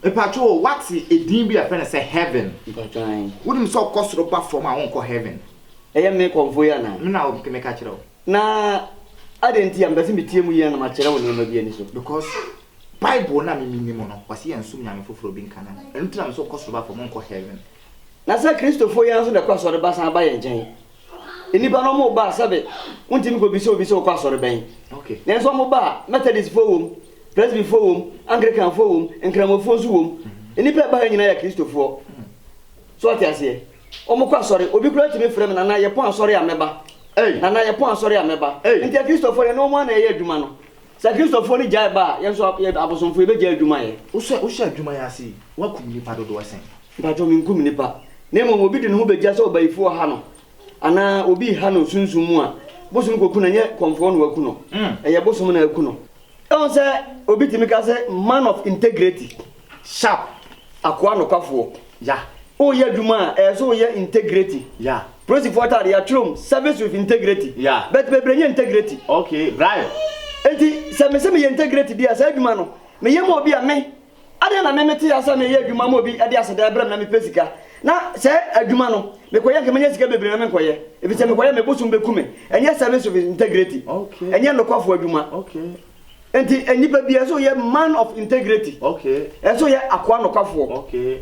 Mepakyɛw wate edin bi a yɛfrɛ no sɛ heaven? Mepakyɛw ahe? Wonim sɛ ɔkɔ soro ba fam a ɔnkɔ heaven? Ɛyɛ me nkorɔfoɔ yi anaa? Me na meka kyerɛ wo. Na adɛn nti a mepɛsɛ metie mu yie na makyerɛ wo nneɛma bi aniso? Because bible no a me menim no ɔse yɛnsom nyame foforɔ bi nka no ho. Ɛno nti na mese ɔkɔ soro ba fam ɔnkɔ heaven. Na sɛ Kristofoɔ yi ara nso na ɛkɔ asɔre ba san ba yɛn nkyɛn? Nnipa no wɔn baa sɛbe wontumi kɔ bisa obi sɛ wokɔ asɔre bɛn. Nanso wɔn baa, Methodistfoɔ wom, Presbyfoɔ wom, Anglicanfoɔ wom, Nkramofoɔ nso wom. Nnipa ɛbaa ha nyinaa yɛ Kristofoɔ. So ɔte aseɛ? Wɔn kɔ asɔre. Obi koraa tumi frɛ me Nana yɛ pɔn asɔre a mɛba. Nana yɛ pɔn asɔre a mɛba. Nti Akristofoɔ yɛne wɔn ara na yɛyɛ adwuma no. Sɛ Akristofoɔ no gyae ba a, yɛn nso abosomfoɔ yɛbɛgyae adwuma yɛ. Wohyɛ adwuma yi ase yi, woakum nnipa dodoɔ sɛn? Mpacho menkum nnipa, na mmom obi de ne ho begya sɛ ɔbayifo ɔha no, anaa obi reha no sunsum mu a, bosom koku no, ɛnyɛ kɔmfoɔ na waku no, ɛyɛ bosom na aku no. Ɛwom sɛ obi tumi ka sɛ man of integrity, sharp, akoa nokwafoɔ, ya, woreyɛ adwuma a, ɛyɛ sɛ woyɛ integrity, ya, polisifoɔ ataadeɛ, yɛatwerɛ mu, service with integrity, ya, but bebree nyɛ integrity, okay, bribe, enti sɛ mese meyɛ integrity deɛ a, saa adwuma no, meyɛ ma obi a, me. Adɛn na me mete ase a meyɛ adwuma ma obi de aseda ɛbrɛ me na mepɛ sika na sɛ adwuma no mekɔyɛ a nka mɛnya sika bebree na me nkɔyɛ efisɛ mekɔyɛ a me bosom bɛku me ɛnyɛ service of integrity ɛnyɛ nokwafo adwuma nti nnipa bia ɛsɛ ɔyɛ man of integrity ɛsɛ ɔyɛ akoa nokwafoɔ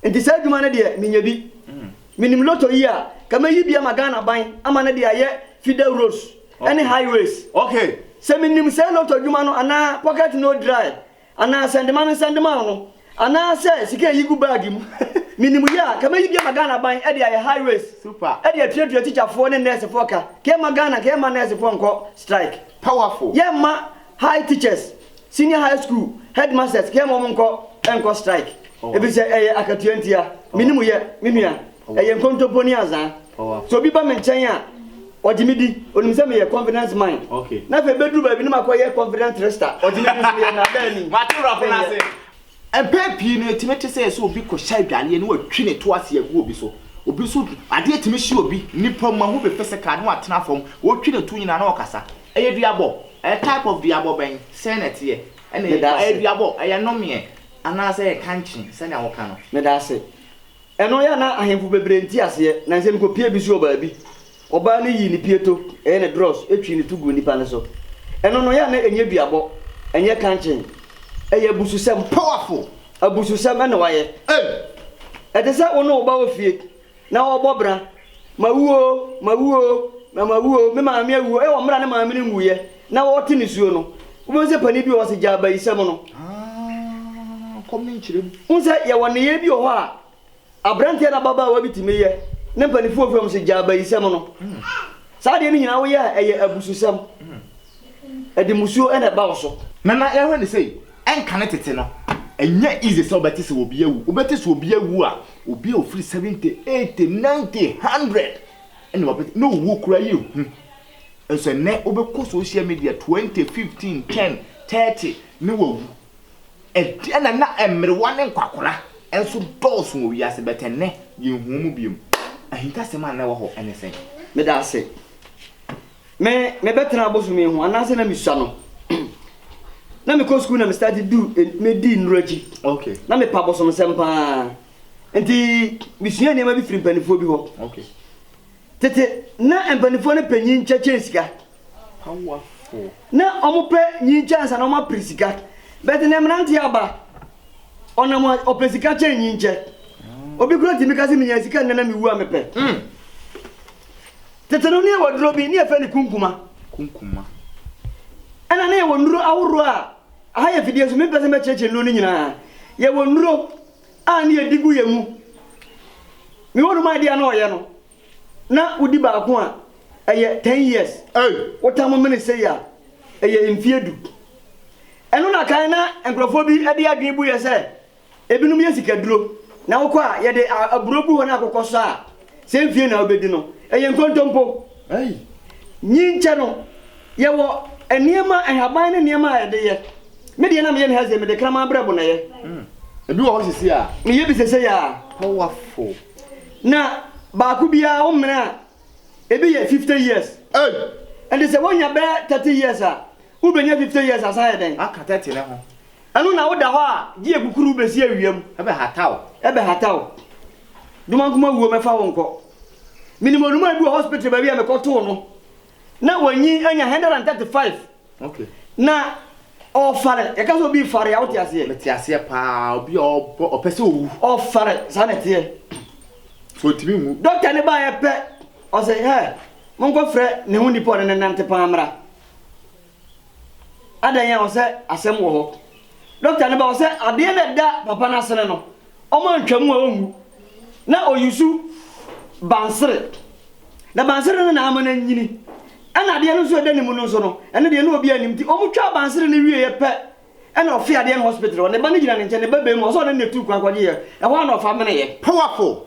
nti saa adwuma no deɛ menya bi mm. menim loto yi a ka mɛyi bi ama Ghana ban ama no de ayɛ fida roads ɛne highways okay sɛ menim sɛ loto adwuma no anaa pocket no dry Anaa sɛndema no nsɛndema no. Anaa sɛ sika ɛyi gu bag mu. Menim yɛ a, nka mɛyi bi ama Ghana aban de ayɛ high waist de atuatua tikyafoɔ ne nɛɛsefoɔ ka. Nka ɛmma Ghana, nka yɛmma nɛɛsefoɔ nkɔ strike. Powerful. Yɛmma high teachers, senior high school headmasters, nka yɛmma wɔn nkɔ strike. Ɛfiri sɛ ɛyɛ akatua ntia. Menim yɛ, me nua. Ɛyɛ nkontompo ne azaa. Sɛ obi ba me nkyɛn a, ɔgye me di. Onim sɛ meyɛ confidence man. Na afei bɛduru baabi na makɔyɛ confident trickster. Ɔgye me di nso yɛ nnaadaa ni. Wate wurafo no ase. Mpɛn pii no, etumi te sɛ sɛ obi kɔhyɛ adwareɛ na watwi ne to ase agu obi so. Obi nso, adeɛ tumi hye obi, nnipa mu, mahu bi physical, na watena fam. Ɔretwi ne to nyinaa na ɔkasa. Ɛyɛ duabɔ. Ɛyɛ type of duabɔ bɛn? Sɛn na ɛteɛ? Ɛnna ɛyɛ duabɔ? Ɛyɛ nnomeɛ? Anaasɛ ɛyɛ kankye sɛnea woka no? Meda ase. Ɛno yɛ a na ahemfo bebree nte aseɛ, na nsɛm kɔ pie bi so wɔ baabi. Ɔbaa no yii ne pieto, ɛyɛ ne drɔs, twee no to guu nnipa no so. Ɛno no yɛ a na ɛnyɛ duabɔ, ɛnyɛ kankyee. Ɛyɛ abususɛm. Powerful! Abususɛm na wayɛ. Ei! Ɛte sɛ wo ne wo ba wɔ fie na ɔrebɔ bra Mawu oo, mawu oo, na mawu oo, me maame awu oo, wɔ mmerɛ a ne maame no nwuiɛ na ɔrete nisuo no, wobɛhu sɛ panin bi wɔ hɔ ɔse gyaa bayisɛm no. Aah, kɔm ne nkyerɛ mu. Wohu sɛ yɛwɔ nneyɛɛ bi wɔ hɔ a aberanteɛ ne ababaawa bi tumi yɛ ne mpaninfoɔ wɔ fie hɔ nom se gyaa bayisɛm no. Saa adeɛ no nyinaa woyɛ a ɛyɛ abususɛm, ɛde musuo na ɛba wo so. Nana yɛhwɛ no sei, ɛnka ne tete no, ɛnyɛ easy sɛ wobɛte sɛ obi awu, wobɛte sɛ obi awu a Obi a ɔfiri seventy, eighty, ninety, hundred ɛna wabɛgye na owuo koraa yɛ hu nso ɛnɛ wobɛkɔ social media twenty, fifteen, ten, thirty ne wawu ɛde ɛna na mmerewa ne nkwakora nso dɔɔso wɔ wiase bɛt ɛnɛ yɛnhu mu biom ahintasɛm a na ɛwɔ hɔ ɛne sɛn? Meda ase. Me mebɛtena bosome ho anaasɛ na mesua no na mekɔ sukuu na me starte du medi nnuro akyi okay. na mepa bosomsɛm paa nti mesua nneɛma bi firi mpanimfoɔ bi hɔ okay. tete na mpanimfoɔ no pɛ nyinkyɛ kyɛn sika Powerful. na wɔpɛ nyinkyɛ ansa na wɔapere sika bɛte na mmeranteɛ aba ɔnam ɔpɛ sika kyɛn nyinkyɛ mm. obi kura tumi ka sɛ menya sika nnɛ na mewu a mepɛ mm. Tete no, na yɛwɔ aduro bi, na yɛfrɛ no kunkuma. Kunkuma. Ɛna na yɛwɔ nnuro ahoroɔ a, aha yɛ fidie so, mempɛ sɛ mɛkyerɛkyerɛ nnuro no nyinaa. Yɛwɔ nnuro a na yɛdi gu yɛn mu. Mewɔ nom adeɛ a na ɔyɛ no, na wodi baako a, ɛyɛ ten years. Ei! Wotam mene sei a, ɛyɛ mfeɛ du. Ɛno na kan na nkurɔfoɔ bi de adwene bu yɛn sɛ, Ebinom yɛ sikaduro, na wokɔ a yɛde aburo gu hɔ na akokɔ sɔ a, sɛ mfie na wobɛdi no. Ɛyɛ nkontompo. Nyinkyɛ no, yɛwɔ nneɛma, nhaban ne nneɛma a yɛde yɛ. Me deɛ na meyɛ ne ha sei, mede kraman berɛbo na ɛyɛ. Ebi wɔ hɔ seesei a. Meyɛ bi seesei a. Powerful. Na baako biara wo mmerɛ a, ebi yɛ fifty years. Ei! Ɛnti sɛ wonya bɛyɛ thirty years a, wobɛnya fifty years asan ayɛ dɛn? Aka thirty no ho. Ɛno na woda hɔ a gye akukuru wobɛsi awia mu. Ɛbɛhata wo. Ɛbɛhata wo. Domankoma wuo mɛfa wo nkɔ. Menim onumaa bi wɔ hospital baabi a mekɔtoo no. Na wanyin anya 135. Okay. Na ɔfare. Yɛka sɛ obi fare a wote aseɛ? Mete aseɛ paa. Obi a ɔbɔ ɔpɛ sɛ owu. Ɔfare. Saa na ɛteɛ. So ɔntumi nwu. Dɔkta no baeɛ pɛ ɔse hɛ monkɔfrɛ ne ho nipa a ɔne no nante paa mmra. Adɛn a ɔsɛ asɛm wɔ hɔ. Doctor no bɛ ɔsɛ adeɛ no ɛda papa no asene no ɔmo antwa mu a ɔnwu na ɔyusu bansere na bansere no na ama no anyini ɛna adeɛ no nso ɛda ne mu no nso no ɛno deɛ na obiara nim nti ɔmo twaa bansere no wieɛ pɛ ɛna ɔfe adeɛ no hospital hɔ ne ba no gyina ne nkyɛn ne ba bɛɛmu ɔsɛ ɔne no na ɛtuu kwan kɔgyeeɛ ɛhɔ a na ɔfa meneeɛ. Powerful!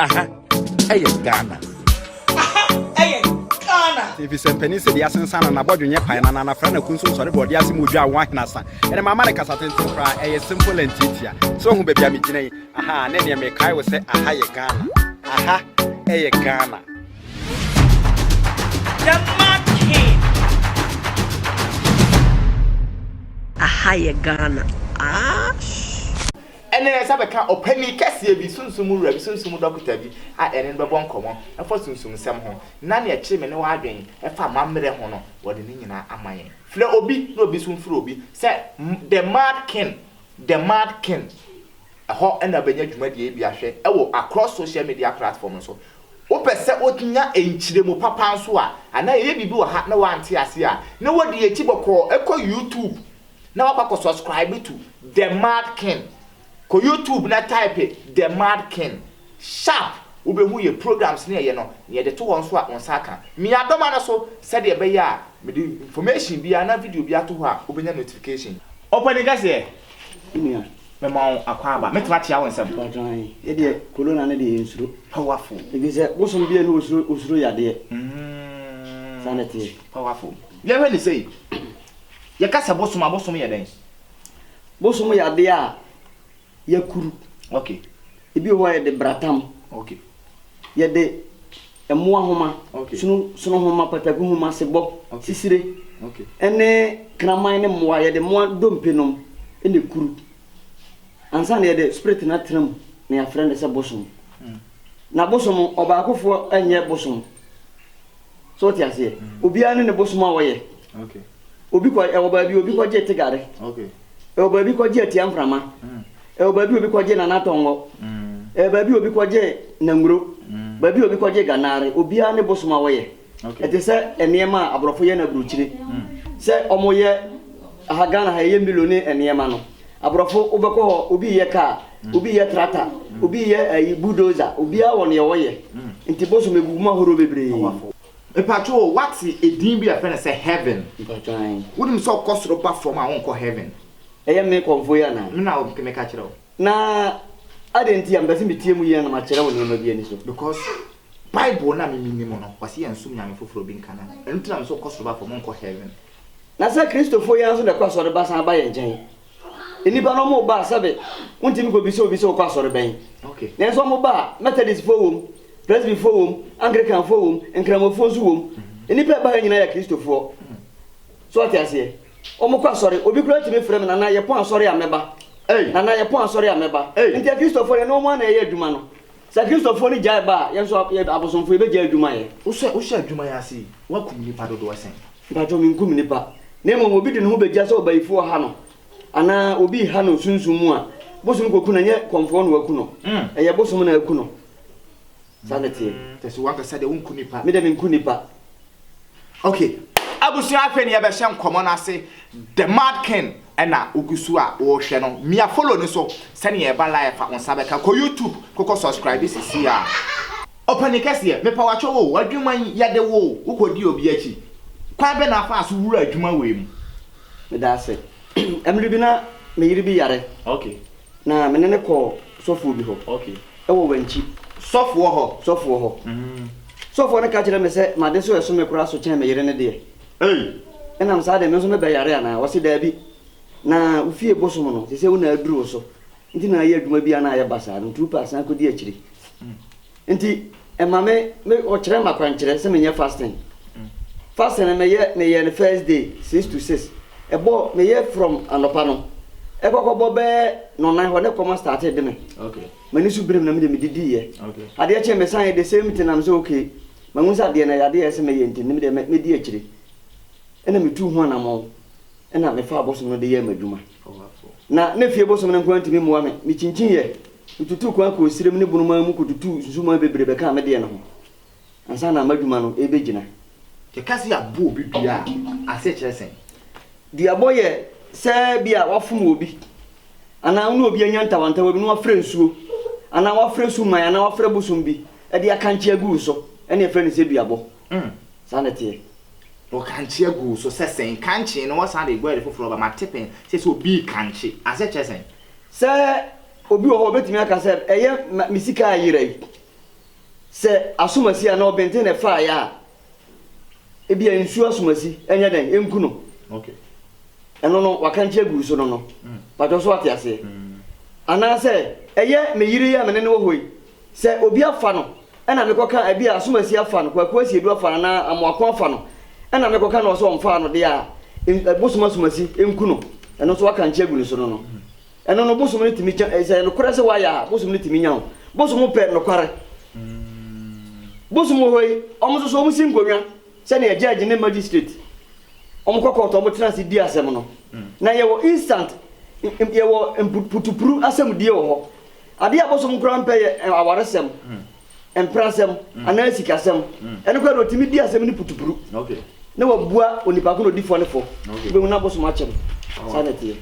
Aha ɛyɛ Ghana. Aha ɛyɛ Ghana. Efisɛ mpanin sɛ deɛ asensan na n'abɔdwe nyɛ pae na n'anafra na kun so nsɔre bɔ ɔde ase mu odwa awon ahenasa. Ɛnna mama no kasa tenten koraa, ɛyɛ simple and tiatia. So hu baabi a megyina yi? Aha, ne deɛ mekae wo sɛ aha yɛ Ghana. Aha ɛyɛ Ghana. Aha yɛ Ghana. Aah. Ɛnna yɛn nsa bɛka ɔpanyin kɛseɛ bi, sunsum mu wura bi, sunsum mu dɔkota bi a yɛne no bɛbɔ nkɔmmɔ afa sunsum nsɛm ho, na nea ɛkyere me ne w'adwene fa amammerɛ ho no, wɔde ne nyinaa ama yɛn. Frɛ obi, na obi nso mfrɛ obi, sɛ The Mad King, The Mad King. Ɛhɔ na wobɛnya dwumadie yi bi ahwɛ wɔ across social media platform no so. Wopɛ sɛ wonya nkyerɛmu papa nso a, anaa yɛyɛ biribi wɔ ha na woante aseɛ a, na wode yɛn akyi bɔkɔɔ kɔ YouTube na wakɔ akɔ subscribe to the mad king kɔ YouTube na type the mad king sharp wobɛhu yɛ programs ne yɛyɛ no na yɛde to hɔ nso a wo nsa aka me adɔma no so sɛdeɛ ɛbɛyɛ a mede information biara na video biara to hɔ a wobɛnya notification. Ɔpanin kɛseɛ, Me nua, mema wo akwaaba. Mɛtumi akyea wo nsɛm? mpakyɛ ae, yɛdeɛ Corona no deɛ yɛnsuro, Powerful. ɛfiri sɛ bosom biara nni hɔ osuro osuro yadeɛ, saa na ɛteɛ. Powerful. Yɛnhwɛ no sei, Yɛka sɛ bosom a, bosom yɛ dɛn? Bosom yɛ adeɛ a yɛakuru. Ok. Ebi wɔ hɔ a yɛde bratam. Ok. Yɛde mmoa nhoma, sono sono nhoma, pataku nhoma, sebɔ, sisire, ɛne kraman ne mmoa, yɛde mmoa dompe nom na ɛkuru. Ansa na yɛde spirit no atena mu na yɛafrɛ no sɛ bosom. Na bosom, ɔbaakofoɔ nyɛ bosom. So wote aseɛ? Obiara ne ne bosom a wɔyɛ. Obi kɔ ɛwɔ baabi obi kɔgye tegare. Ɛwɔ baabi kɔgye atia mframa. Ɛwɔ baabi obi kɔgye nana tɔngɔ. Ɛwɔ baabi obi kɔgye nanguro. Baabi obi kɔgye ganaare. Obiara ne bosom a wɔyɛ. Ɛte sɛ nneɛma a aborɔfo yɛ no aburokyire. Sɛ wɔyɛ aha Ghana ha yɛyɛ milo ne nneɛma no. Abrɔfo wobɛkɔ hɔ obi reyɛ car, obi reyɛ tractor, obi reyɛ ayi bulldozer, obiara wɔ nea ɔyɛ, nti bosom egugu mu ahorow bebree. Mpatsɔ o w'atse edin bi a yɛfrɛ no sɛ heaven? Mpatsɔ ae. Wonim sɛ ɔkɔ soro ba fɔm a ɔnkɔ heaven? Ɛyɛ me kɔmfoɔ yi anaa? Me na meka kyerɛ wo. Na adɛn nti a mepɛ sɛ metie mu yie na makyerɛ wo nneɛma bi ani so? Because bible no a me menim no ɔse yɛnsom nyame foforɔ bi nka no ho, ɛno nti na mese ɔkɔ soro ba fɔm ɔnkɔ heaven. Na sɛ Kristofo yi ara nso na ɛkɔ asɔre ba san ba yɛn nkyɛn. Nnipa no wɔba a, sɛbe wontumi nkɔbisa obi sɛ wokɔ asɔre bɛn. Nanso wɔba a, Methodistfoɔ wom, Presbyfoɔ wom, Anglicanfoɔ wom, Nkramofoɔ nso wom. Nnipa a ɛba ha nyinaa yɛ Kristofoɔ. So wate aseɛ? Wɔkɔ asɔre. Obi koraa tumi frɛ me, Nana, yɛpɔn asɔre a mɛba. Nana, yɛpɔn asɔre a mɛba. Enti Akristofoɔ deɛ, ɛne wɔn ara na ɛyɛ adwuma no. Sɛ Kristofo no gyae ba a, yɛn nso yɛn abosomfo, yebegyae adwuma yɛ. Sɛ wohyɛ adwuma yi ase yi, woakum nnipa dodoɔ sɛn? Mpakyɛw, menkum nnipa. Na mmom obi de ne ho begya sɛ ɔbayifo ɔha no, anaa obi reha no sunsum mu a, bosom koku no, ɛnyɛ kɔmfoɔ na waku no. Ɛyɛ bosom na aku no. Saa na ɛteɛ. Kyerɛ sɛ, woankasa deɛ, wonku nnipa. Me deɛ, menku nnipa. Ok abusua afei no yɛbɛhyɛ nkɔmɔ no ase the mad king ɛna wogusu a wohwɛ no mia follow no so sɛnea ɛba live fa wonsa bɛka kɔ YouTube kokɔ subscribe sisi a. Ɔpanin kɛseɛ, mepa wakyɛw oo, w'adwuma yi yɛde wo oo, wokɔ di obi akyi, kwan bɛn na afaa so wuraa adwuma wei mu? Meda ase. Mmere bi na me yere bi yare. Ok. Na me ne no kɔɔ sɔfoɔ bi hɔ wɔ Wankyi. Sɔfoɔ hɔ? Sɔfoɔ hɔ. Sɔfoɔ no ka kyerɛɛ me sɛ m'ade so reso me koraa so kyɛn me yere no deɛ. Ei! Ɛnam saa deɛ, me nso mɛbɛyare anaa? Ɔse, Daabi. Na wo fie bosom no, ɛsɛ sɛ wo na aduru wo so. Nti na ayɛ adwuma biara na ayɛ basaa. Nti wopɛ a san kɔdi akyire. Nti ɛma me me wɔkyerɛ me akwankyerɛ sɛ menyɛ fasting. Fasting no meyɛ meyɛɛ no first day six to six. Ɛbɔ meyɛ from anɔpa no ɛkɔkɔ bɔ bɛyɛ nɔnan hɔ na ɛkɔm astate de me. M'ani so berem na me deɛ medidiiɛ. Adeɛ kyeeɛ mesan yɛ the same thing na me sɛ ok mahunu sɛ adeɛ no ɛyɛ adeɛ a ɛsɛ mɛyɛ nti no me deɛ mɛ mɛdi akyire. Ɛna metuu ho anamɔn. Ɛnna mefaa bosom no de yɛɛ m'adwuma. Ná na fie bosom no nko ara ntumi mmoa me. Mikyinkyiiɛ, metutuu kwan kɔɔ srem ne bun man mu kɔtutuu nsusuwii bebree bɛkaa me deɛ no ho ansa na m'adwuma no rebɛgyina. Yɛka sɛ yɛabɔ obi dua a, asekyerɛ sɛn? Duabɔ yɛ sɛ ebia woafom obi, anaa wo ne obi anya ntawantawa bi na woafra nsuo, anaa woafra suman anaa woafra bosom bi de akankye agu wo so, ɛnna yɛfrɛ no sɛ duabɔ. Umm saa na ɛteɛ. Wɔ kankyea guu so sɛ sɛn? Kankyee no wɔsan de guɛɛde foforɔ ba mate pɛn sɛ sɛ obi rekankye asɛ kyerɛ sɛn? Sɛ obi wɔ hɔ a ɔbɛtumi aka sɛ ɛyɛ ma me sika ayera yi. Sɛ asomasi anaa ɔbenten na ɛfaeɛ a, ebia nsuo asomasi nyɛ dɛn? Ɛnku no. Okay. Ɛno no wakankye agu so no no. Patwɔ so wate aseɛ? Anaasɛ ɛyɛ me yere yi a me ne no wɔ hɔ yi. Sɛ obi afa no na mekɔka, ebia Asomasi afa no, Kwaku Asiedu afa no anaa Amoako afa no na mekɔka no hɔ sɛ ɔmfaa no de a, bosom Asomasi nku no, ɛno nso waka nkyɛ agu ne so no no. Ɛno no bosom no tumi nya, sɛ ɛyɛ nokorɛ sɛ wayɛ a, bosom no tumi nya wo. Bosom pɛ nokware. Bosom wɔ hɔ yi, wɔn nso so wɔn si nkonnwa sɛnea judge ne magistrate, wɔn kɔ court wɔn tena ase di asɛm no. Na yɛwɔ instant, yɛwɔ mputupuru asɛmdie wɔ hɔ. Ade a abosom koraa mpɛ yɛ awaresɛm, mprasɛm, anaa sikasɛm. Ɛno koraa de, otumi di asɛm no putupuru, na wabua onipa ko na odi fɔ no fɔ. Wubehu na abosom akyɛ no. Saa na ɛteɛ.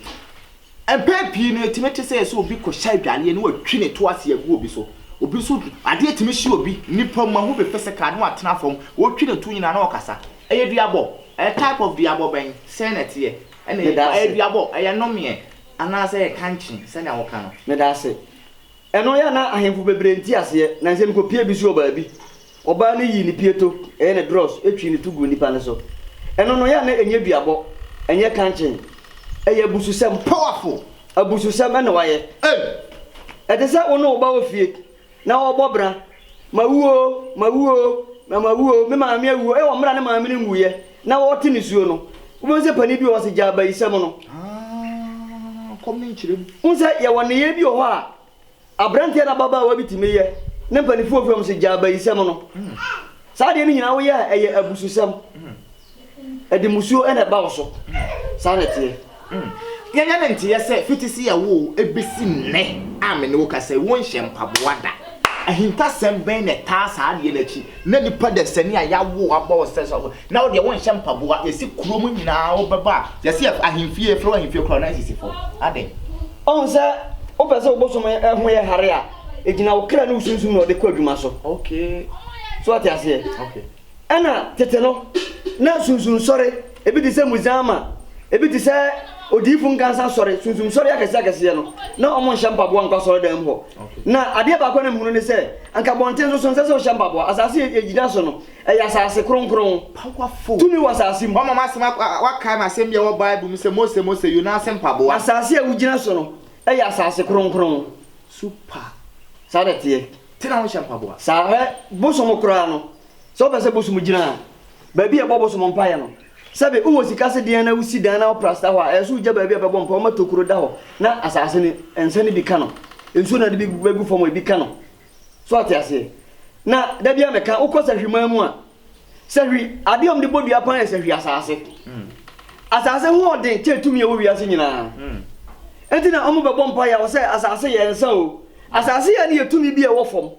Mpɛn pii no, etumi te sɛ sɛ obi kɔhyɛ adwareɛ na watwi ne to ase agu obi so. Obi nso, adeɛ tumi hye obi, nnipa mu, ahu bi physical, na watena fam. Ɔretwi ne to nyinaa na ɔkasa. Ɛyɛ duabɔ. Ɛyɛ type of duabɔ bɛn? Sɛn na ɛteɛ? Ɛna ɛyɛ duabɔ. Ɛyɛ nnomeɛ. Anaasɛ yɛ kankye sɛnea woka no. Medaase. Ɛno yɛ a na ahemfo bebree nte aseɛ, na nsɛm kɔ pie bi so wɔ baabi. Ɔbaa no yii ne pieto, ɛyɛ ne dross, twii no to guu nnipa no so. Ɛno no yɛ a na ɛnyɛ duabɔ, ɛnyɛ kankye. Ɛyɛ abususɛm, powerful abususɛm na wayɛ. Ei! Ɛte sɛ wo ne wo ba wɔ fie, Na ɔrebɔ bra, Mawu oo, mawu oo, na mawu oo, me maame awu oo, wɔ mmerɛ a ne maame no nwuiɛ, na ɔrete nisuo no, wobɛhu sɛ panin bi wɔ hɔ sɛ gyaa bayisɛm no. Haa, kɔm ne nkyerɛ mu. Wohu sɛ yɛwɔ nneyɛɛ bi wɔ hɔ a aberanteɛ anaa ababaawa bi tumi yɛ ne mpaninfoɔ firi hɔ sɛ gyaa bayisɛm no. Saa adeɛ no nyinaa woyɛ a ɛyɛ abususɛm. Ɛde mmusuo na ɛba wo so. Saa na ɛteɛ. Yɛnyɛ no nteɛ sɛ fiti sɛ yɛwoo wo bɛsi nnɛ a me ne wo kasa yi, wonhyɛ mpaboa da. Ahintasɛm bɛn na ɛtaa saa adeɛ no akyi? Na nipa dasani a yɛawo wo abɔ wo sɛ sɛ wo, na wo deɛ wonhyɛ mpaboa, yɛsi kurom nyinaa wobɛba a, yɛse yɛ ahemfie, yɛfrɛ wo ahemfie koraa na asisi fam. Adɛn? Ɔhu sɛ wopɛ sɛ wo bosom ho yɛ hare a, ɛgyina wo kra ne wo sunsum na ɔde kɔ adwuma so. Okay. So wote aseɛ? Okay. Ɛnna tete no, na sunsunsɔre, ebi te sɛ Muzama, ebi te sɛ odiyifo nkansa sɔre, sunsunsɔre akɛseakɛseɛ no, na wɔnhyɛ mpaboa nkɔ asɔredan mu hɔ. Na adeɛ baako a na mehunu ne sɛ, anka abɔnten so so nsɛ sɛ wohyɛ mpaboa. Asase a yɛgyina so no, ɛyɛ asase kronkron. Powerful. Tumi wɔ asase mu. Wɔama m'asɛm ak- a- wɔakae m'asɛm bi a ɛwɔ Bible mu sɛ, Mose, Mose, Yona ase mpaboa. Asase a wogyina so no, ɛyɛ asase kronkron. Super. Saa na ɛteɛ. Te na wonhyɛ mpaboa. Saa hwɛ bosom koraa no sɛ wopɛ sɛ bosom gyina baabi a yɛbɔ bosom mpaeɛ no sɛbe wowɔ sika se deɛn na wosi dan na wo prasta hɔ a ɛyɛ sɛ wogya baabi a bɛbɔ mpaeɛ woma tokuro da hɔ na asaase no nsa no bi ka no nsuo no a ɛde bɛgu fam hɔ ebi ka no so wate aseɛ na da biara meka wokɔ sahwimaa mu a Sɛ hwi, adeɛ a wɔde bɔ dua paa yɛ sɛ hwi asase. Asase ho ɔden kyɛ tumi ɛwɔ wiase nyinaa. Ɛnti na wɔn bɛbɔ mpa yɛ wɔ sɛ asase yɛ nsa o. Asase yɛ ne yɛ tumi bi ɛwɔ fam.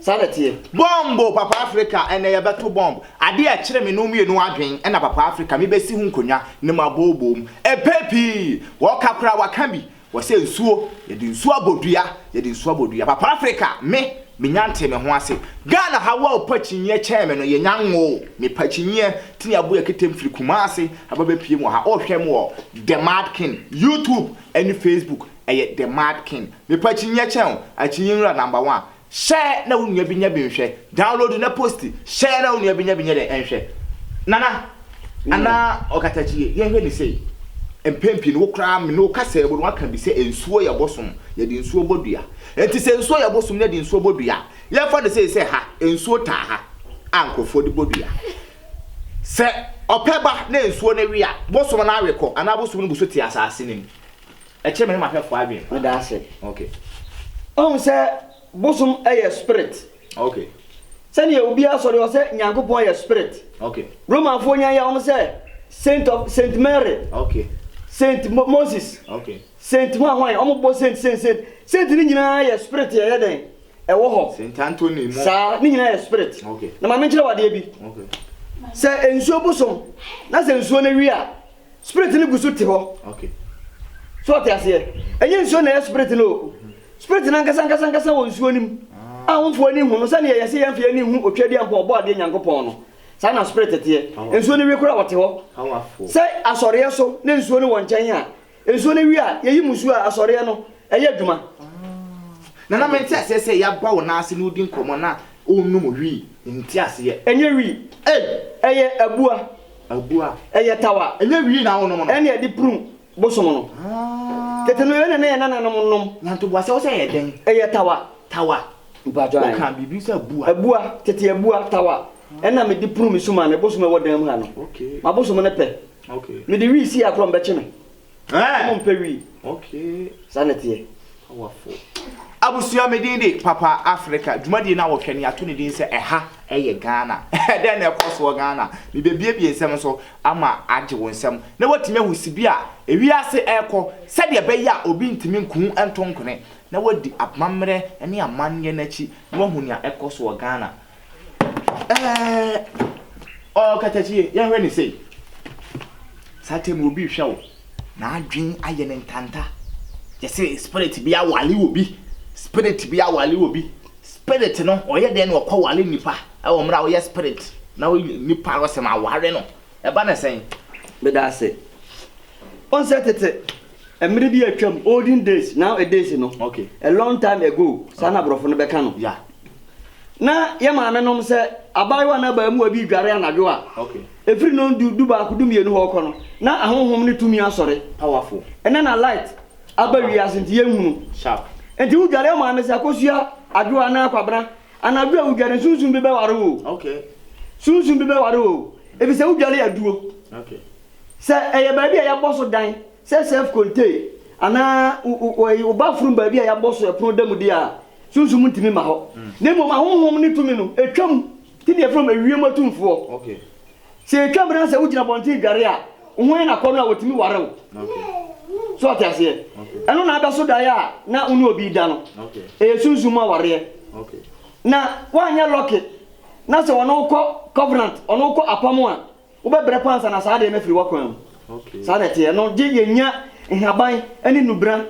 Saa na ɛteɛ. Bɔmbo papa Africa ɛnɛ yɛ bɛto bɔmb. Adeɛ a ɛkyere me nom mmienu adwen ɛna papa Africa me bɛsi ho nkonwa ne ma bɔɔbɔɔ mu. Ɛpɛ pii. Wɔka koraa waka bi. Wɔsɛ nsuo, yɛde nsuo abɔ dua, yɛde nsuo abɔ dua. Papa Africa, me, menya ntee me ho ase. Ghana ha wo a ɔpa kyinyeɛ kyɛn me no, yɛnya nwoo. Mepa kyinyeɛ, nti na yɛabɔ yɛn ketem firi Kumasi aba bɛpue mu wɔ ha. Wohwɛ me wɔ The Mad King, YouTube ne Facebook, ɛyɛ The Mad King. Mepa kyinyeɛ kyɛn wo, akyinyeɛ nwura number one. Share na wo nua bi nyɛ bi nhwɛ, download na posti, share na wo nua bi nyɛ bi nyɛ dɛn nhwɛ. Nana, anaa Ɔkatakyie, yɛnhwɛ no sei, mpɛn pii no wo koraa me ne wo kasaa mu no woaka bi sɛ nsuo yɛ bosom, yɛde nsuo bɔ dua. Enti sɛ nsuo yɛ bosom na yɛde nsuo bɔ dua a, yɛmfa no sei sɛ ha, nsuo taa ha a nkurɔfoɔ de bɔ dua. Sɛ ɔpɛ ba na nsuo no we a, bosom no awe kɔ anaa bosom no gu so te asase no mu. Ɛkyerɛ me ne m'ahwɛfoɔ adwene pa. Meda ase. Okay. Wahu sɛ bosom yɛ spirit. Okay. Sɛdeɛ obi asɔre wɔ sɛ Nyankopɔn yɛ spirit. Okay. Romanfoɔ nyan yɛ wɔn sɛ saint of saint Mary. Okay. Saint Mo Moses. Okay. Saint hwan hwan wɔn bɔ saint saint saint saint ne nyinaa yɛ spirit yɛ yɛ dɛn ɛwɔ hɔ. Saint Anthony mo. Saa ne nyinaa yɛ spirit. Okay. Na maame nkyerɛ wadeɛ bi. Okay. Sɛ nsuo bosom na sɛ nsuo no wi a. spirit no gu so te hɔ so ɔte aseɛ ɛnyɛ nsuo na ɛyɛ spirit no o spirit no ankasa ankasa ankasa wɔ nsuo no mu a womfoɔ ani hu no sɛdeɛ yɛse yɛmfeɛ ani hu otwa di ankɔ ɔbɔ adeɛ nyankopɔn no saa na spirit teɛ nsuo no wie kora wɔte hɔ sɛ asɔreɛ so ne nsuo no wɔ nkyɛn a nsuo no wie a yɛyi mu suo a asɔreɛ no ɛyɛ adwuma na na mente aseɛ sɛ yɛaba wo nan ase na wodi nkɔmmɔ na ɔnum wii nte aseɛ ɛnyɛ wii ɛyɛ abua Abua. Ɛyɛ taw a. Ɛnyɛ wii na wonom no. Ɛne ɛde prum bosom no. Aah. Tete no ɛna na yɛn nananom nom. Na ntoboa sɛ wo sɛ ɛyɛ dɛn. Ɛyɛ tawa. Tawa. Mpatsɔ ae. Wokaa biribi sɛ abua. Abua, tete abua, tawa, ɛna me de prum me sum a me bosom a ɛwɔ dan mu ha no. Okay. M'abosom no pɛ. Okay. Me de wii si akorɔ mbɛkye me. Ɔmo mpɛ wii. Saa na ɛteɛ. Abusua, me din de Papa Africa. Dwumadie no a wɔhwɛ no, yɛato no din sɛ Ɛha yɛ Ghana. Dɛn na ɛkɔ soɔ Ghana? Mebebuebue nsɛm no so ama agye wo nsam na woatumi ahu sibea a ewiase rekɔ sɛdeɛ ɛbɛyɛ a obi ntumi nku ho nto nkwene na woadi amammerɛ ne amanneɛ no akyi na woahu nea ɛkɔ soɔ Ghana. Ɛɛ, ɔkatakyie, yɛhwɛ ne sei. Saa tɛm obi rehwɛ wo, n'adwene ayɛ ne ntanta. Yɛsɛ spirit bi awale obi, spirit bi awale obi. Spirit no, ɔyɛ dɛn na ɔkɔ wale nipa? Ɛwɔ mmerɛ a woyɛ spirit na nipa no sɛ maware no, ɛba ne sɛn? Meda ase. Wohu sɛ tete, mmerɛ bi atwam, olden days, now a days no, a long time ago, saa na aborɔfo no bɛka no. na yɛ maame nom sɛ abaayewa na abaamuwa bi dware anadwo a ɛfiri non du du baako du mmienu hɔ kɔ no na ahonhom ne tumi asɔre powerful ɛnɛ na light aba wiase nti yɛn hunu sharp nti wo dware ɔmaame sɛ akosua adwo anaa kwabena anadwo a wo dware sunsun bi bɛware wo okay sunsun bi bɛware wo ebi sɛ wo dware aduo okay sɛ ɛyɛ baabi a yɛabɔ so dan Sɛ self contain anaa wo bathroom baabi a yɛabɔ so ɛpono da mu deɛ a, sunsum ntumi mma hɔ. Na mmom ahonhom ne tumi no, ɛtwa mu. Nti na yɛfrɛ wɔn ewiem atumfoɔ. Sɛ ɛtwa mu na sɛ wogyina abɔnten dware a, wo ho yɛ no akɔnnɔ a, wɔtumi ware wo. So ate aseɛ? Ɛno na abɛso daeɛ a na wo ne obi reda no. Ɛyɛ sunsum mu awareɛ. Na woanyɛ lɔke na sɛ ɔne wo kɔ covenant, ɔne wo kɔ apam a, Wobɛbrɛ pa ansa na saa adeɛ no afiri w'akwan mu. Saa na ɛteɛ. Ɛno gye yɛnya nhaban ne nnubena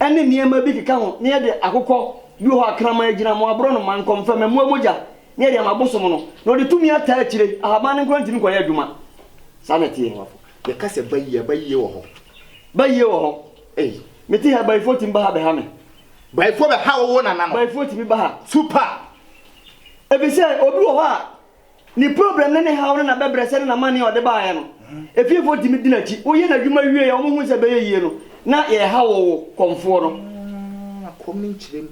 ne nneɛma bi keka ho na yɛde akokɔ, bi wɔ hɔ a kraman agyina, mmoaborɔnoma, nkɔmfɛ, mmamuwa mogya na yɛde ama abosom no na ɔde tumi ataa akyire. Ahaban no nko ara ntumi nkɔyɛ adwuma. Saa na ɛteɛ. Yɛka sɛ ba yie a, ba yie wɔ hɔ. Ba yie wɔ hɔ. Ei, mete ha yi, bayifoɔ tumi ba ha bɛha me. Bayifoɔ bɛha wo, wo nana no. Bayifoɔ tumi ba ha. Super! Efisɛ obi wɔ hɔ a, Ne problem ne ne haw ne n'abɛbrɛsɛ ne n'amanneɛ a ɔde baeɛ no, efiefoɔ tumi di n'akyi. Woyɛ n'adwuma wie a, wɔhu sɛ ɛbɛyɛ yie no, na yɛreha wo wo kɔmfoɔ no. Akɔm ne nkyerɛm.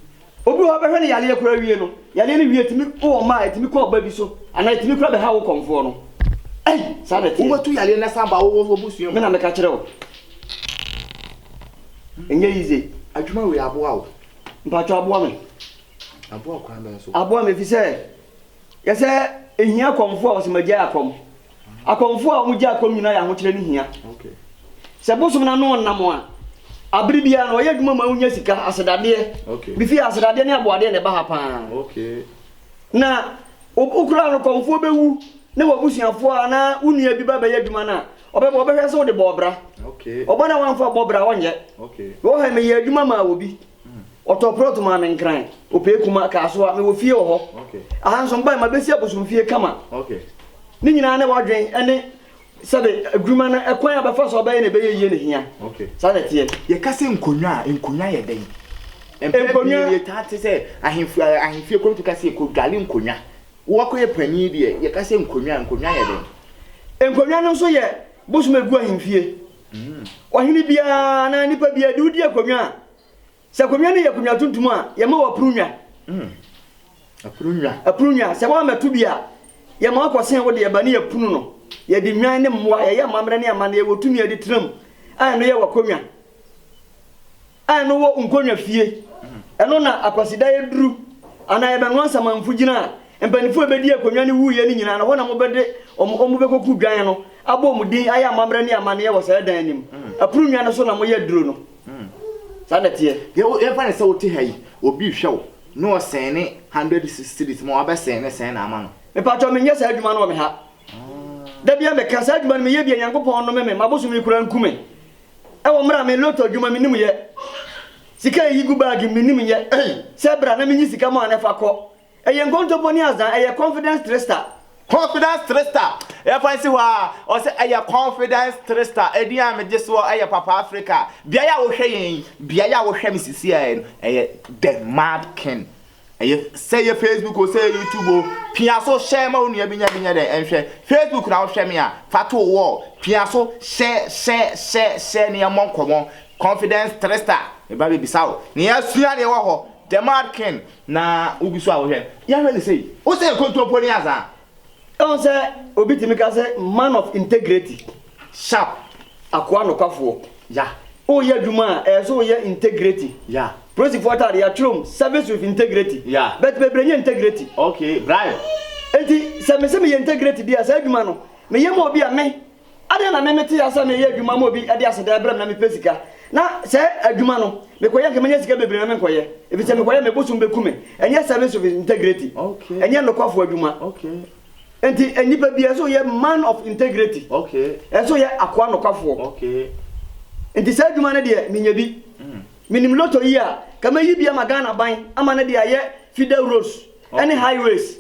Obi wɔ hɔ a, wobɛhwɛ no yareɛ koraa wie no, yareɛ no wie a, ɛtumi wɔ mma a, ɛtumi kɔ ɔba bi so, anaa ɛtumi koraa bɛha wo kɔmfoɔ no. Ei! Saa na ɛteɛ. Wobɛtu yareɛ no asan aba wo wo abusua mu. Me na meka kyerɛ wo. Ɛnyɛ easy. Adwuma wei aboa wo? Mpakyɛ aboa me. Aboa wo kwan bɛn so? Aboa me ɛfiri sɛ, Yɛ sɛ ehia akɔmfo a wɔsɛ magyae akɔm. Akɔmfo a wɔgyae akɔm nyinaa yɛ ahokyerɛ no hia. Sɛ bosom no ano nna mo a, bere biara no wɔyɛ adwuma ma wonya sika, asedadeɛ. Bi fi ha, asedadeɛ ne aboadeɛ na ɛba ha pa ara. Na wokura no kɔmfoɔ bɛwu na w'abusuafoɔ anaa wo nua bi ba bɛyɛ adwuma no a, ɔbɛba ɔbɛhwɛ sɛ wode bɔɔ bra. Ɔba no a wamfa bɔ bra ɔnyɛ. Mewɔ ha yi meyɛɛ adwuma maa obi. Ɔtɔɔ plɔt maa me Nkran, Opee-Kuma, Kasoa. Mewɔ fie wɔ hɔ. Aha nso mebae mabesi abosomfie kama. Ne nyinaa ne w'adwene ne sɛbe adwuma no kwan a bɛfa so abɛyɛ na ɛbɛyɛ yie na ehia. Saa na ɛteɛ. Yɛka sɛ nkonwa a, nkonwa yɛ dɛn? Mpɛn pii no yɛtaa te sɛ ahemfo a ahemfie kɔ no tumi ka sɛ yɛkɔdware nkonwa. Woakɔyɛ panin deɛ, yɛka sɛ nkonwa a, nkonwa yɛ dɛn? Nkonwa no nso yɛ bosom a egu ahemfie. Ɔhene biara anaa nipa biara de wo di akonnwa a, sɛ akonnwa no yɛ akonnwa tuntum a, yɛma wo apuru nnwa. Apuru nnwa. Apuru nnwa. Sɛ woammɛto bi a, yɛma wo akɔsen wo deɛ ba ne yɛpunu no. Yɛde nnwan ne mmoa, yɛyɛ amammerɛ ne amanneɛ, yɛwɔ tumi a yɛde tra mu a ɛno yɛ w'akonnwa. a ɛno wɔ nkonnwa fie, ɛno na Akwasida yɛ duru, anaa yɛbɛnoa nsamanfo gyina a, mpanyimfo a ebedi akonnwa no wuiɛ no nyinaa no, ɛhɔ na wɔbɛde wɔn wɔn bɛkɔku dwan no, abɔ wɔn din, ayɛ amammerɛ ne amanneɛ wɔ saa dan no mu. Ɛpono nnwa no so na wɔyɛ aduro no. Saa na ɛteɛ. Deɛ wo yɛmfa no sɛ wote ha yi, obi rehwɛ wo na ɔsɛn ne hundred cedis ma wo, wabɛsɛn ne sɛn na ama no? Mepaatɔ menyɛ saa adwuma no wɔ me ha. Da biara meka, saa adwuma no meyɛ bi a Nyankopɔn nnome me, m'abosom yi koraa nku me. Ɛwɔ mmerɛ a me lotto adwuma me nim yɛ Sika a ɛyi gu bag mu me nim yɛ Sɛ bra na me nyi sika mɔa ne fa kɔ Ɛyɛ nkontompo ne azan ɛyɛ confidence trister. Confidence trister yɛ fa nsi hɔ a Ɔsɛ ɛyɛ confidence trister Ɛdin a me gye soɔ ɛyɛ papa Africa Beaeɛ a wo hwɛ yɛn yi Beaeɛ a wo hwɛ me sisi a yɛ no Ɛyɛ the mad king Ɛyɛ sɛ yɛ Facebook o sɛ yɛ YouTube o, pia so hyɛ ma wo nua bi nyɛ bi nyɛ dɛ ɛnhwɛ. Facebook na wohwɛ me a, fa to wo wall, pia so hyɛ hyɛ hyɛ hyɛ na yɛmmɔ nkɔmmɔ. Confidence Trista, meba bebisa wo na yɛasua deɛ ɛwɔ hɔ. Demar King na wogu so a wohwɛ. Yɛnhwɛ no sei, wo sɛ nkontompo ne asaa? Ɛwom sɛ obi tumi ka sɛ man of integrity, sharp, akoa nokwafoɔ, ya, woyɛ adwuma a ɛyɛ sɛ woyɛ integrity, ya, polisifoɔ ataadeɛ yɛatwerɛm service with integrity, ya, but bebree nyɛ integrity, okay, bribe, enti sɛ mese meyɛ integrity deɛ a saa adwuma no meyɛ ma obi a me Adɛn na meme tee asɛ meyɛ adwuma ma obi de aseda ɛbrɛ me na mepɛ sika na sɛ adwuma no mekɔyɛ nka mɛnya sika bebree na menkɔyɛ efisɛ mekɔyɛ me bosom bɛku me ɛnyɛ service of integrity ɛnyɛ nokwafo adwuma enti nnipa bia ɛsɛ oyɛ man of integrity ɛsɛ oyɛ akoa nokwafoɔ enti saa adwuma no deɛ menya bi menim loto yi a ka mɛyi bi ama Ghana ban ama no de ayɛ feeder roads ɛne highways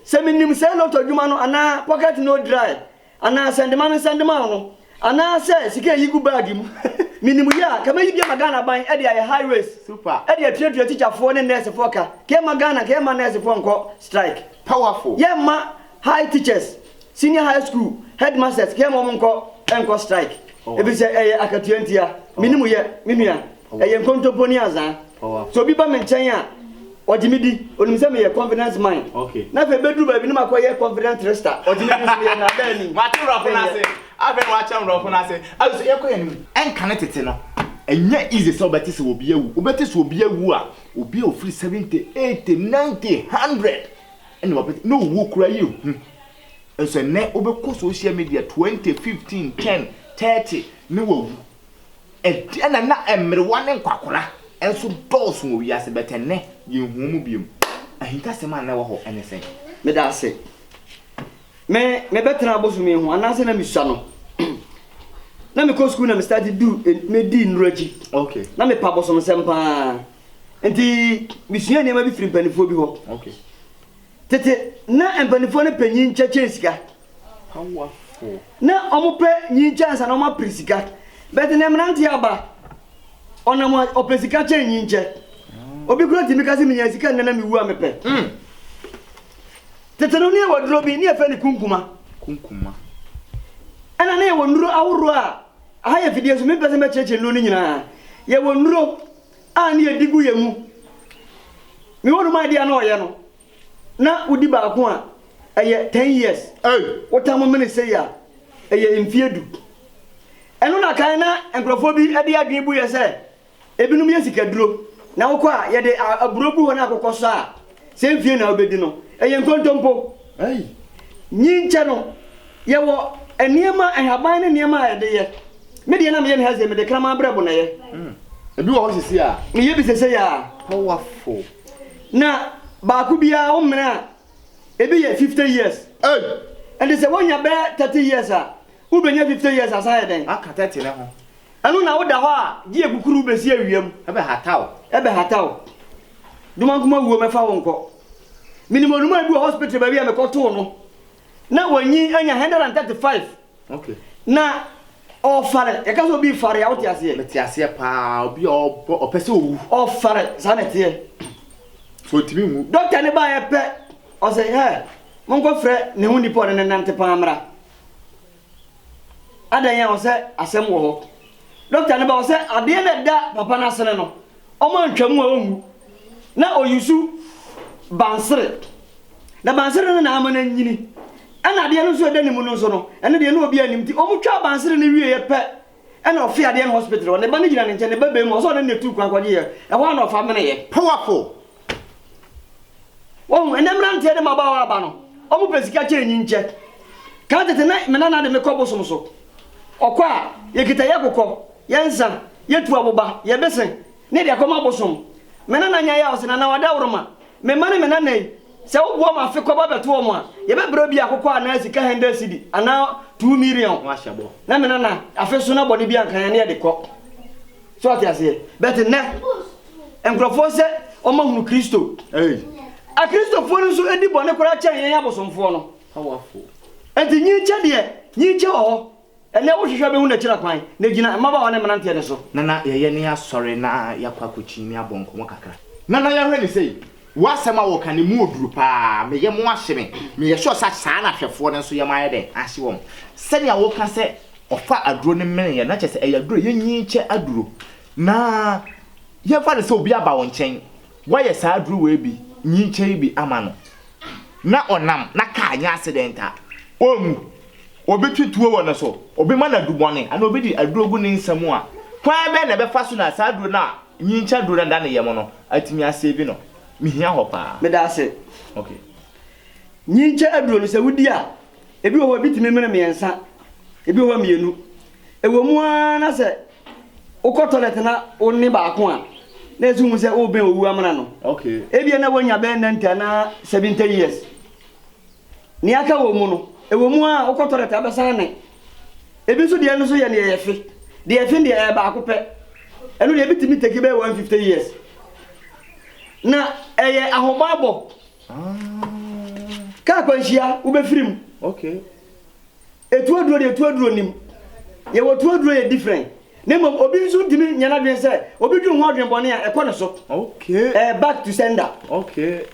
sɛ menim saa loto adwuma no anaa pocket no dry Anaa nsɛndema ne nsɛndema a ɔno. Anaa sɛ sika a ɛyi gu baage mu. Menim yɛ a, nka mɛyi bi ama Ghana ban de ayɛ high waist de atuatua tikyafoɔ ne nɛɛsefoɔ ka. Nka yɛmma Ghana, nka yɛmma nɛɛsefoɔ nkɔ strike. Powerful. Yɛmma high teachers, senior high school headmasters, nka yɛmma wɔn nkɔ nkɔ strike. Ɛfiri sɛ ɛyɛ akatua ntia. Menim yɛ, me nua. Ɛyɛ nkontompo ne azaa. Sɛ obi ba me nkyɛn a, ɔgye me di. Onim sɛ meyɛ confidence man. Na afei bɛduru baabi na makɔyɛ confident trickster. Ɔgye me di nso yɛ nnaadaa ani. Wate mmorɔfo no ase. Afei na wakyɛ mmorɔfo no ase. Afei nso yɛkɔ yɛn anim. Ɛnka ne tete no, ɛnyɛ easy sɛ wobɛte sɛ obi awu. Wobɛte sɛ obi awu a, obi a ɔfiri seventy, eighty, ninety, hundred ɛna wabɛte. Na owuo koraa yɛ hu. Nso ɛnnɛ wobɛkɔ social media twenty, fifteen, ten, thirty ne wawu. Ɛdeɛn na na mmerewa ne nkwakora nso dɔɔso wɔ wiase, but ɛnnɛ yɛnhu wɔn bio. Ahintasɛm a na ɛwɔ hɔ ne sɛn? Meda ase. Me, mebɛtena bosome ho anaasɛ na mesua no. na mekɔ sukuu na me start du, medi nnuro akyi. Okay. Na mepa bosomsɛm paa. Nti, mesua nneɛma bi firi mpanimfoɔ bi hɔ. Okay. Tete na mpaninfoɔ no pɛ nyinkyɛ kyɛn sika. Na ɔmo pɛ nyinkyɛ ansa na ɔmo apere sika. Bɛt nɛ mmeranteɛ aba, ɔnam a ɔpɛ sika kyɛn nyinkyɛ. Obi kura tumi ka se menyaa sika nnɛ na mewu a mepɛ. Tete no ne yɛwɔ aduro bi ne yɛfɛ ne kunkuma. Kunkuma. Ɛna ne yɛwɔ nnuro ahoroɔ a, aha yɛ fidie so mempɛ se mɛkyerɛkyerɛ nnuro no nyinaa. Yɛwɔ nnuro A ne yɛ di gu yɛ mu. Me hɔ nom adeɛ a na ɔyɛ no na wo di baako a ɛyɛ ten years ei wo tam mene sei a ɛyɛ mfie du ɛno na kan na nkorɔfoɔ bi de adwene bu yɛ sɛ ebinom yɛ sikaduro na wo kɔ a yɛde aburo gu hɔ na akokɔ sɔ a sɛ mfie na wobɛdi no, ɛyɛ nkontompo. Nyinkyɛ no, yɛwɔ nneɛma, nhaban ne nneɛma a yɛde yɛ. Me deɛ na meyɛ no ha sɛ mede kraman brɛbo na ɛyɛ. Mm. Ebi wɔ hɔ sisi a. Meyɛ bi sese a. Powerful. Na baako biara wo mmerɛ a, ebi yɛ 50 years. Hey. Ɛnti sɛ wonya bɛɛ 30 years a, wobɛnya 50 years asan ayɛ dɛn? Aka 30 ne ho. Ɛno na woda hɔ a gye akukuru wobɛsi awia mu. Ɛbɛhata wo. Ɛbɛhata wo. Domankoma wuo mɛfa wo nkɔ. Menim onumaa bi wɔ hospital baabi a mekɔtoo no na wanyin anya 135 Okay. na ɔfare, yɛka sɛ obi fare a wote aseɛ? Mete aseɛ paa, obi a ɔbɔ ɔpɛ sɛ owu. Ɔfare, saa na ɛteɛ. So ɔntumi nwu. Doctor no baeɛ pɛ ɔse hɛ monkɔfrɛ ne ho nipa a ɔne no nante paa mmra. Adɛn a ɔsɛ asɛm wɔ hɔ. Doctor no ba ɔsɛ adeɛ no a ɛda papa no asene no ɔmo antwa mu a ɔnwu na ɔyusu bansere na bansere no na ama no anyini ɛna adeɛ no nso a ɛda ne mu no nso no ɛno deɛ na obiara nnim nti ɔmo twaa bansere no wieɛ pɛ Ɛna ɔfee adeɛ no hospital hɔ, ne ba no gyina ne nkyɛn, ne ba bɛn mu, ɔsɛ ɔne no na ɛtuu kwan kɔgyeeɛ, ɛhɔ ara na ɔfa meneeɛ. Powerful! Woahu, ɛnnɛ mmeranteɛ ne mmabaawa aba no, wɔpɛ sika kyɛn nyinkyɛ. Kan tete na me nana de me kɔ bosom so, ɔkɔ a, yɛkita yɛn akokɔ, yɛn nsa, yɛtu aboba, yɛn bese, Ne deɛ kɔma bosom. Me nana nya yaw se nana wada woroma me mma ne me nana yi sɛ wo boa ma afe kɔba bɛto wɔn a yɛbɛ brɛ bi akokɔ anaa sika hɛndɛd sidi anaa two miriɔn ho ahyɛ bɔ na me nana afe so na bɔne bi anka yɛn ne yɛde kɔ so ɔte aseɛ bɛte nɛ nkorɔfoɔ sɛ wɔn ahunu kristo a kristofoɔ no nso di bɔne koraa kyɛn yɛn abosomfoɔ no enti nyi nkyɛ deɛ nyi nkyɛ wɔ hɔ Ɛnnɛ wohwehwɛ bɛhu n'akyira kwan, na gyina mmabaawa ne mmeranteɛ no so. Nana yɛyɛ ne asɔre na yɛakɔ akɔkyin ne abɔ nkɔmmɔ kakra. Nana yɛhwɛ ne sei, w'asɛm a wɔka no emu ɔduru paa, me yam ahye me, meyɛ sure sɛ saa na ahwɛfoɔ no nso yam ayɛ dɛn ahye wɔn. Sɛnea woka sɛ ɔfa aduro no meneeɛ no na kyerɛ sɛ ɛyɛ aduro a yɛnyin kyɛ aduro. Na yɛmfa no sɛ obi aba wo nkyɛn, woayɛ saa aduro wei bi, nyin kyɛ yi bi ama no, na ɔnam na kaa nyɛ accident a, ɔrenwu. Obetwi tuo wɔ ne so, obema no aduru bɔne, anaa obedi aduro agu ne nsa mu a, kwan bɛn na ɛbɛfa so na saa aduro no a nyinkyɛ aduro no da ne yam no atumi asave no? Mihia hɔ paa. Meda ase. Okay. Nyinkyɛ aduro no, sɛ wudi a, ebi wɔ hɔ a, ebi tumi mene mmiɛnsa, ebi wɔ hɔ a, mmienu. Ɛwɔ mu ara na sɛ wokɔ tɔlɛt na wone baako a, na ɛsɛ wohu sɛ worebɛn owu amena no. Okay. Ebia na woanya bɛyɛ ninety anaa seventy years. Nea aka wɔ mu no, ɛwɔ mu ara a, wokɔ tɔlɛt a, wobɛsan ne. Ebi nso deɛ ɛno nso yɛ nea ɛyɛ fe. Deɛ ɛfe deɛ, ɛyɛ baako pɛ. Ɛno deɛ, ebi tumi take bɛyɛ 150 years. Na ɛyɛ ahobammɔ. Ah. Kaa akwanhyia, wobɛfiri mu. Okay. Etu aduro deɛ etu aduro nim. Yɛwɔ tu aduro yɛ different. Na mmom obi nso ntumi nyɛ n'adwene sɛ obi dwen ho adwene bɔne a ɛkɔ ne so. Okay. Ɛyɛ back to sender. Okay.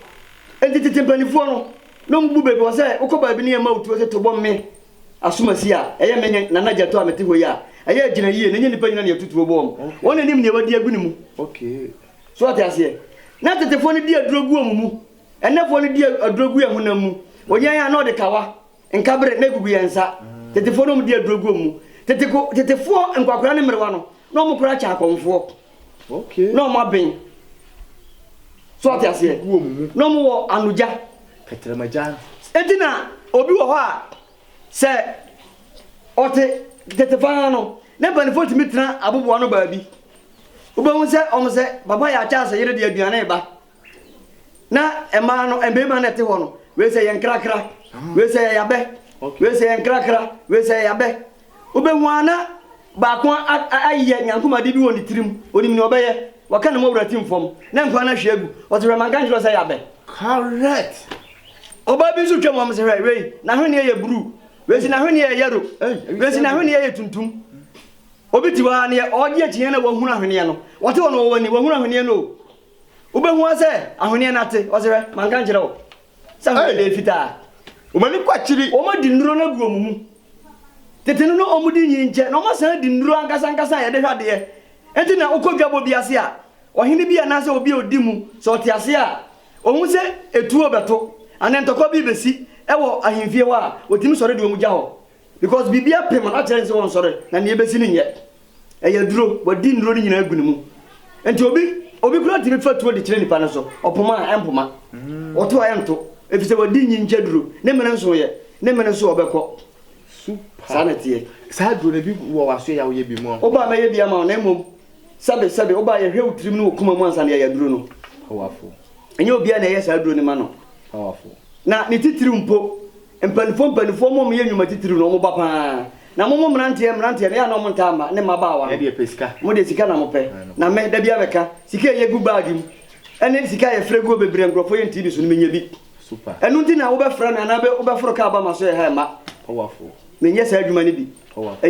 Enti tete mpanimfoɔ no na wɔn bu baabi wɔ sɛ wokɔ baabi ne yɛma wo tuo sɛ to bɔ me asomasi a ɛyɛ me ne Nana Gyatɔ a mete hɔ yi a ɛyɛ agyina yie na ɛnyɛ nnipa nyina na yɛto tuo bɔ wɔn. Okay. Wɔn na nim nea wɔadi agu ne mu. Okay. So wɔte aseɛ. Na tetefoɔ no di aduro gu wɔn mu. Ɛnnɛfoɔ no di aduro gu yɛn honam mu. Wɔnya yɛn a na wɔde kawa Nka bere na egugu yɛn nsa. Tetefoɔ na wɔdi aduro gu wɔn mu. Teteko, tetefoɔ, nkwakoraa ne mmerewa no, na wɔn koraa kyɛ akɔmfoɔ. Okay. Na wɔn aben. So ɔte aseɛ? Gu wɔn mu. Na wɔn wɔ anogya. Kɛtɛrɛmagya. Eti na obi wɔ hɔ a sɛ ɔte tetefaa no, ne mpanimfoɔ tumi tena aboboano baabi. Wobɛhu sɛ wɔn sɛ papa yɛ akyɛ asɛ yere de aduane reba. Na mmaa no, mmarima na ɛte hɔ no, wei sɛ yɛ nkrakra, wei sɛ yɛ yabɛ, wei sɛ yɛ nkrakra, wei sɛ yɛ yabɛ. Wobɛhu a na baako ayeyɛ nyankomade bi wɔ ne tirim, onim nea ɔbɛyɛ, waka ne mɔwura tim fam, na nkwan no ahwie agu. Ɔse hwɛ manka nkyerɛ wo sɛ yabɛ. Correct. Ɔbaa bi nso twam hɔ, ɔse hwɛ wei n'ahweneɛ yɛ bruu, wei si n'ahweneɛ yɛ yɛro, wei si n'ahweneɛ yɛ tuntum. Obi te hɔ a neɛ ɔregye akyinnyeɛ na wahunu ahweneɛ no, ɔte hɔ no ɔwɔ ani, wahunu ahweneɛ no o. Wobɛhu ara sɛ ahoneɛ no ate. Ɔse hwɛ, manka nkyerɛ wo sɛ ahoneɛ no yɛ fitaa? Wɔn ani kɔ akyiri. Wɔadi nnuro no agu wɔn mu. Tete no na wɔdi nyinkyɛ, na wɔasan adi nnuro ankasa ankasa a yɛde hwɛ adeɛ. Enti na wokɔ dwabɔ bi ase a, ɔhene bi anaasɛ obi a ɔdi mu, sɛ ɔte aseɛ a, ɔhu sɛ etuo rebɛto anaa ntɔkwa bi rebɛsi wɔ ahemfie hɔ a, ɔtumi sɔre de wɔn gya hɔ. Because biribi apem a na kyerɛ ne sɛ ɔnsɔre na nea ɛbɛsi no nyɛ. Ɛyɛ aduro, wadi nnuro no nyinaa agu ne mu. Nti obi obi koraa tumi fa tuo de kyerɛ nipa no so, ɔpoma a ɛmpoma, ɔto a ɛnto, efisɛ wadi nyingya duro, ne mene nsoeɛ, ne mene nso ɔbɛkɔ. Super. Saa na ɛteɛ. Saa aduro no ebi wɔ w'aso yɛ a woyɛ bi mu a. Woba a mɛyɛ bi ama wo na mmom sɛbe sɛbe woba a yɛhwɛ wo tirim ne wo koma mu ansa na yɛayɛ aduro no. Powerful. Ɛnyɛ obiara na yɛyɛ saa aduro no ma no. Powerful. Na ne titiriw mpo. Mpanimfoɔ mpanimfoɔ mom yɛ nnwuma titiriw na wɔn ba paa na mom mmeranteɛ mmeranteɛ no yɛ a na wɔn ntaa mma ne mmabaawa no wɔn deɛ sika na wɔn pɛ na me da biara mɛka sika a yɛgu baage mu ɛne sika a yɛfrɛ guo bebree a nkurɔfoɔ yɛ ntii bi so no menya bi ɛno nti na wobɛfrɛ me anaa wobɛforo kaa ba ma so yɛ ha mma menyɛ saa adwuma no bi ɛyɛ